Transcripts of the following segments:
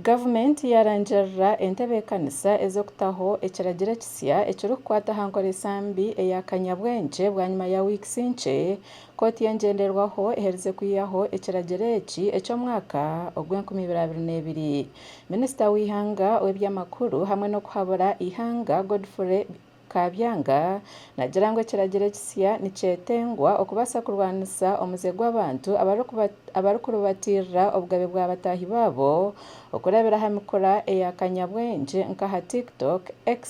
Gavumenti yaarangirira entebeekanisa ez'okutaho ekiragiro ekisya ekirikukwata aha nkoresa mbi eya kanyabwengye bwanyima ya wiikisi nkye, kooti y'engyenderwaho eherize kwihaho ekiragiro eki eky'omwaka ogw'enkumi ibiri abiri n'ebiri. Minisita w'eihanga ow'eby'amakuru hamwe n'okuhabura eihanga Godfrey. Kaabyanga nagira ngu ekiragiro ekisya nikyetengwa okubaasa kurwanisa omuze gw'abantu abarikuribatirira obugabe bwa bataahi baabo okurabira aha mikura eya kanyabwengye nk'aha TikTok, X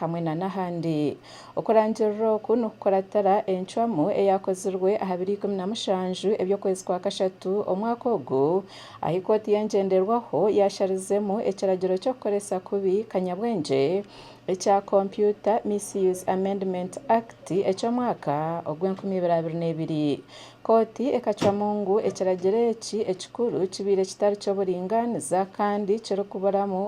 hamwe na n'ahandi. Okurangirira oku nikukuratira encwamu eyaakozirwe aha biro ikumi na mushanju eby'okwezi kwa kashatu omwaka ogu ahu ekooti y'engyenderwaho yaasharizemu ekiragiro ky'okukoresa kubi kanyabwengye ekya Computer Misuse Amendment Act eky'omwaka ogw'enkumi ibiri abiri n'ebiri. Kooti ekacwamu ngu ekiragiro eki ekikuru kibaire kitari ky'oburingaaniza kandi kirikuburamu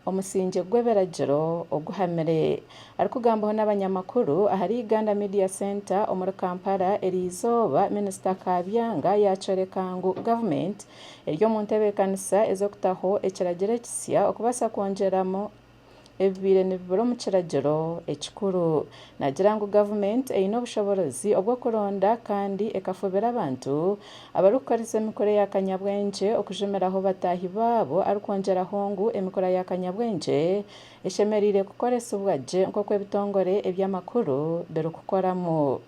omusingye gw'ebiragiro oguhamire. Arikugambaho n'abanyamakuru ahari Uganda Media Centre omuri Kampala eri izooba, Minisita Kabyanga yaakyoreka ngu gavumenti eri omu ntebeekanisa ez'okutaho ekiragiro ekisya okubaasa kwongyeramu ebibaire nibibura omu kiragiro ekikuru. Naagira ngu gavumenti eine obushoboorozi obw'okuronda kandi ekafubira abantu abarikukoresa emikura ya kanyabwengye okujumiraho bataahi baabo arikwongyeraho ngu emikura ya kanyabwengye eshemereire kukoresibwa gye nk'oku ebitongore eby'amakuru birikukoramu.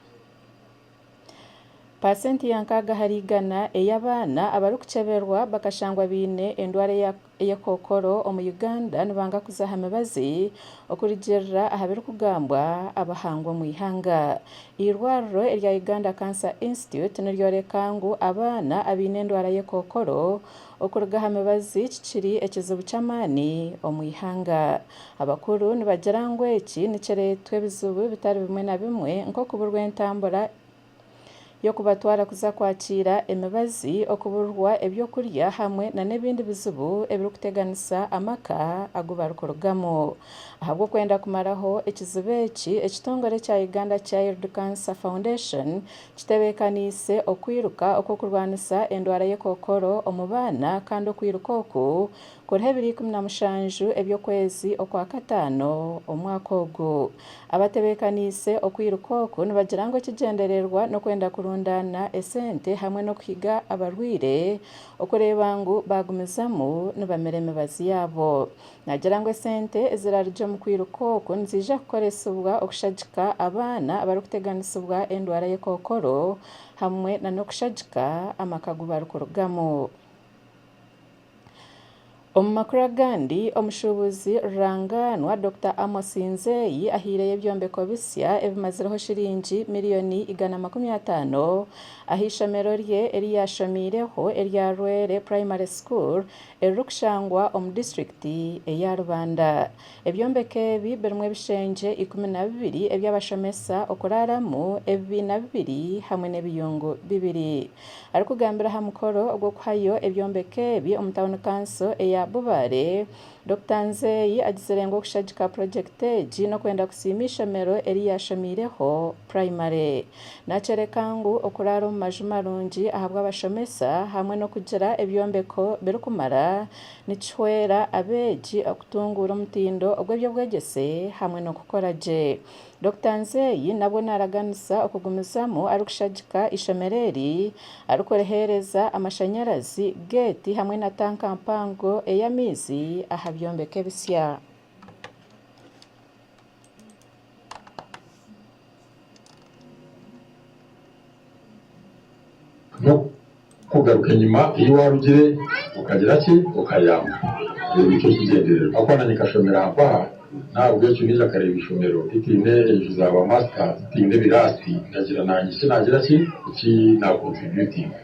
Paasenti ya nkaaga ahari igana ey'abaana abarikukyeberwa bakashangwa baine endwara ya kookoro omu Uganda nibanga kuza aha mibazi okurugiirira aha birikugambwa abahangwa omu ihanga. Eirwariro erya Uganda Cancer Institute niryoreka ngu abaana abaine endwara y'ekookoro Okuruga aha mibazi kikiri ekizibu ky'amaani omu ihanga. Abakuru nibagira ngu eki nikireetwa ebizibu bitari bimwe na bimwe nk'okuburwa entambura y'okubatwara kuza kwakiira emibazi, okuburwa eby'okurya hamwe na n'ebindi bizibu ebirikuteganisa amaka agu barikurugamu. Ahabw'okwenda kumaraho ekizibu eki, ekitongore ekya Uganda Child Cancer Foundation Kitebeekaniise okwiruka okw'okurwanisa endwara y'ekookoro omu baana kandi okwiruka oku kuriho ebiro ikumi na mushanju eby'okwezi okwa kataano omwaka ogu. Abatebeekaniise okwiruka oku nibagira ngu ekigyendererwa n'okwenda kurundaana esente hamwe n'okuhiga abarwaire okureeba ngu baagumizamu nibamira emibazi yaabo. Naagira ngu esente eziraarugye omu kwiruka oku niziija kukoresibwa okushagika abaana abarikuteganisibwa endwara ye kookoro hamwe nana okushagika amaka agu barikurugamu. Omu makuru agandi, omushuubuzi rurangaanwa Dokita Amos Nzeyi ahaireyo ebyombeko bisya ebimazireho shiringi miriyoni igana makumi ataano aha ishomero rye eri yaashomeireho erya Rwere Primary School eririkushangwa omu disiturikiti eya Rubanda. Ebyombeko ebi birimu ebishengye ikumi na bibiri eby'abashomesa okuraaramu, ebibiina bibiri hamwe n'ebiyungu bibiri. Arikugambira aha mukoro gw'okuhayo ebyombeko ebi omu tauni kanso eya Bubaale, Dokita Nzeyi agizire ngu okushagika purojekiti egi n'okwenda kusiima eishomero eri yaashomiireho, Primary. Nakyoreka ngu okuraara omu maju marungi ahabw'abashomesa hamwe n'okugira ebyombeko birikumara nikihwera abeegi okutunguura omutindo ogw'eby'obwegyese hamwe n'okukora gye. Dokita Nzeyi nabwo naaraganisa okugumizamu arikushagika eishomero eri, arikuriheereza amashanyarazi, geeti hamwe na tanka mpango ey'amaizi aha byombeko ebisya. N'okugaruka enyima ei waarugire okagira ki? Okayamba. Ekyo nikyo kigyendererwa. Ahakuba naanye nkashomera aha mpaha, n'ahabw'ekyo naija nkareeba eishomero ritaine enju za baamaasita, ritaine biraasi, ndagira naanye eki naagira ki, eki naakontributinga.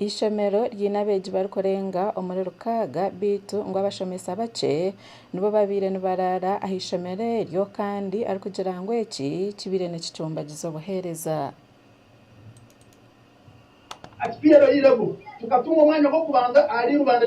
Eishomero ryine abeegi barikurenga omuri rukaaga beitu ngu abashomesa bakye nibo babaire nibaraara aha ishomero eryo kandi arikugira ngu eki kibaire nikicumbagiza obuheereza. Ati, Twaireho eirebo, tukatunga omwanya gw'okubanza ahari rubanda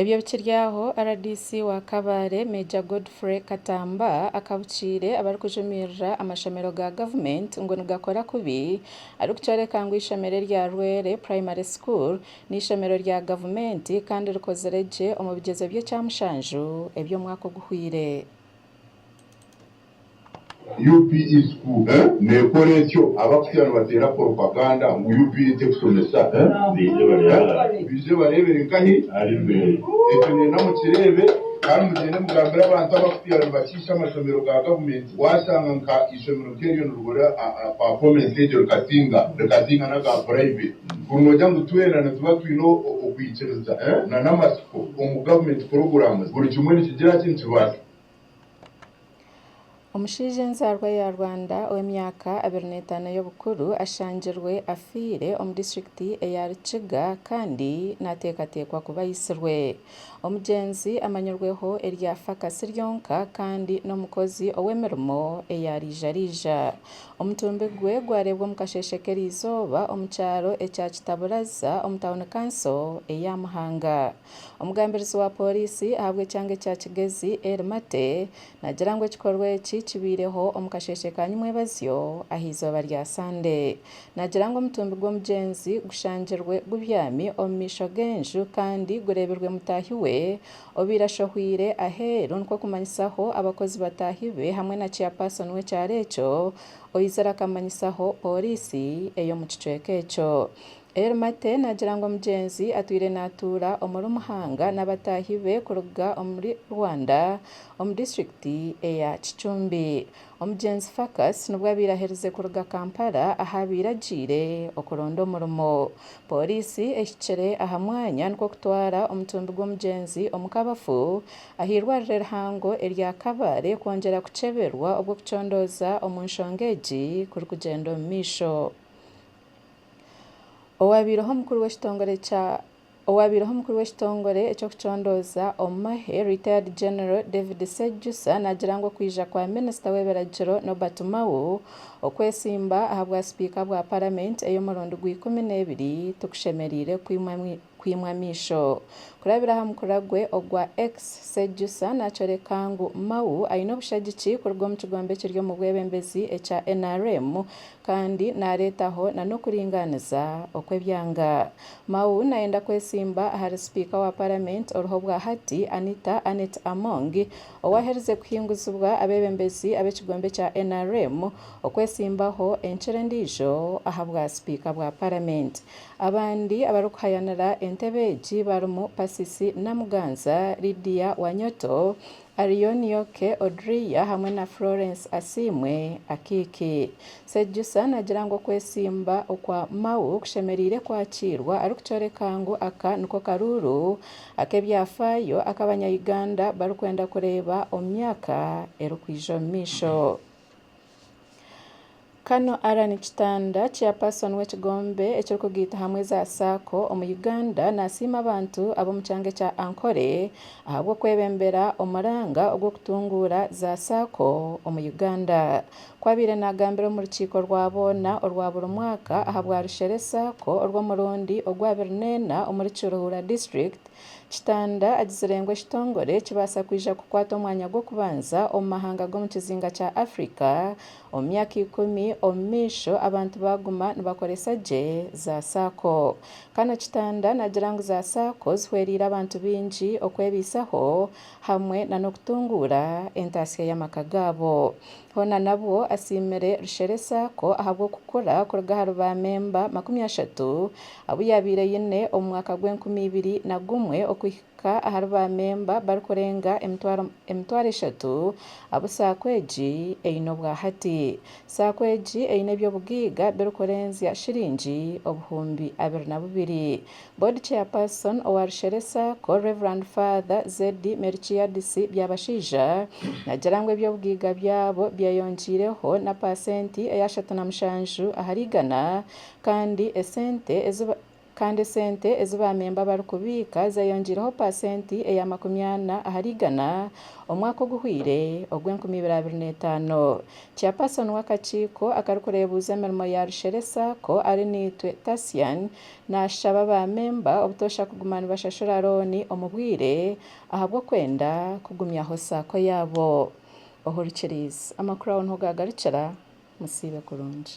Ebyo bikiri aho, rdc wa Kabale, Major Godfrey Katamba akabukiire abarikujumirira amashomero ga gavumenti ngu nigakora kubi arikukyoreka ngu eishomero erya Rwere Primary School n'eishomero rya gavumenti kandi rikozire gye omu bigyezo by'ekyamushanju eby'omwaka oguhweire. UPE school eh nekora ekyo abakutya nibateera propaganda ngu UPE tekusomesa eh baije barebere nkahi ari beeye ekyo nenda mukireebe kandi mugyende mugambire abantu abakutya nibakiisha amashomero ga government washanga nka ishomero nkeryo nirigura performance egyo rikasinga rikasinga naga private kuri nogira ngu twena nituba twine okwikiriza eh nana amatsiko omu government kurugura ngu buri kimwe nikigiraki nikibaasa Omushaija ow'enzaarwa ya Rwanda ow'emyaka abiri n'etaano y'obukuru ashangirwe afiire omu disiturikiti eya Rukiga kandi nateekateekwa kuba aitsirwe. Omugyenzi amanyirweho erya Fakasi ryonka kandi n'omukozi ow'emirimo eyaraijaraija. Omutumbi gwe gwareebwa omu kasheeshe k'erizooba omu kyaro ekya Kitaburaza omu tauni kanso eya Muhanga. Omugambirizi wa pooriisi ahabw'ekyanga ekya Kigezi, Elly Mate, naagira ngu ekikorwa eki kibaireho omu kasheeshe ka nyimwebazyo ah'eizooba rya Sande. Naagira ngu omutumbi gw'omugyenzi gushangirwe gubyami omu maisho g'enju kandi gureebirwe mutaahi we obaire ashohweire aheeru nikwo kumanyisaho abakozi bataahi be hamwe na Chairperson w'ekyaro ekyo oizire akamanyisaho pooriisi ey'omu kicweka ekyo. Ermate naagira ngu omugyenzi atwire naatuura omuri Muhanga n'abataahi be kuruga omuri Rwanda omu disiturikiti eya Kicumbi. Omugyenzi Phacus nibwo abaire aherize kuruga Kampala ahu abaire agiire okuronda omurimo. Pooriisi ehikire aha mwanya nikwo kutwara omutumbi gw'omugyenzi omu kabafu aha eirwariro erihango erya Kabale kwongyera kukyeberwa obu okucondooza omu nshonga egi kurikugyenda omu maisho. Owaabaireho omukuru w'ekitongore kya Owaabaireho omukuru w'ekitongore eky'okucondooza omu mahe, Retired General David Sejusa naagira ngu okwija kwa minisita w'ebiragiro Nobert Mao okwesimba ahabwa sipiika bwa paramenti ey'omurundi gwa ikumi n'ebiri tikushemereire kwimwa Kwimwa amaisho. Kurabira aha mukura gwe ogwa X, Sejusa naakyoreka ngu Mao aine obushagiki kuruga omu kigombe ekiri omu bwebembezi ekya nrm kandi naareetaho nana okuringaaniza okw'ebyanga. Mao naayenda kwetsimba ahari sipiika wa paramenti oriho obwa hati, Anita Annet Among, owaaherize kuhinguzibwa abeebembezi ab'ekigombe kya nrm okwetsimbaho enkira endiijo aha bwa sipiika bwa paramenti. Abandi abarikuhayanira entebe egi barimu Persis Namuganza, Lydia Wanyoto, Arion Yoke Odria hamwe na Florence Asiimwe, Akiki. Sejusa naagira ngu okwesimba okwa Mao kushemereire kwakiirwa arikukyoreka ngu aka niko karuuru ak'ebyafaayo aku Abanya-Uganda barikwenda kureeba omu myaka erikwija omu maisho. Kano Allan Kitanda chairperson w'ekigombe ekirikugaita hamwe za sacco omu Uganda nasiima abantu ab'omu kyanga ekya Ankole ahabw'okwebembera omuranga ogw'okutunguura za sacco omu Uganda. Ku abaire nagambira omu rukiiko rwa boona orwa buri mwaka ahabwa Rushere sacco orw'omurundi ogwa abiri neena omuri Kiruhura district Kitanda agizire ngu ekitongore kibaasa kwija kukwata omwanya gw'okubanza omu mahanga g'omu kizinga kya Africa omu myaka ikumi omumaisho abantu baaguma nibakoresa gye za Sacco. Kano Kitanda nagira ngu za Sacco zihwereire abantu baingi okwebaisaho hamwe nana okutunguura entaasya y'amaka gaabo. Hoona nabwo asiimire Rushere Sacco ahabw'okukura kuruga ahari ba memba makumi ashatu abu yaabaire aine omu mwaka gw'enkumi ibiri na gumwe okuhika ahari ba memba barikurenga emitwaro eshatu abu Sacco egi eine obwa hati. Sacco egi eine eby'obugaiga birikurenzya shiringi obuhumbi abiri na bubiri Board Chairperson owa Rusheresa Co Rev Father Zeddy Merikiadisi Byabashaija nagira ngu eby'obugaiga byabo byeyongyireho na paasenti eya ashatu na mushanju ahari igana kandi esente ezi kandi esente ezi baamemba barikubiika zeyongyireho paasenti eya makumi ana ahari igana omwaka oguhweire ogwa enkumi ibiri abiri na etaano. Chairperson w'akakiiko akarikureebuuza emirimo ya Rusheresa Co Arinaitwe Tasian Naashaba baamemba obutoosha kuguma nibashashura looni omu bwire ahabw'okwenda kugumyaho saako yaabo. Uhuru Kiriizi. Amakuru aho niho gaagarukira. Musiibe kurungi.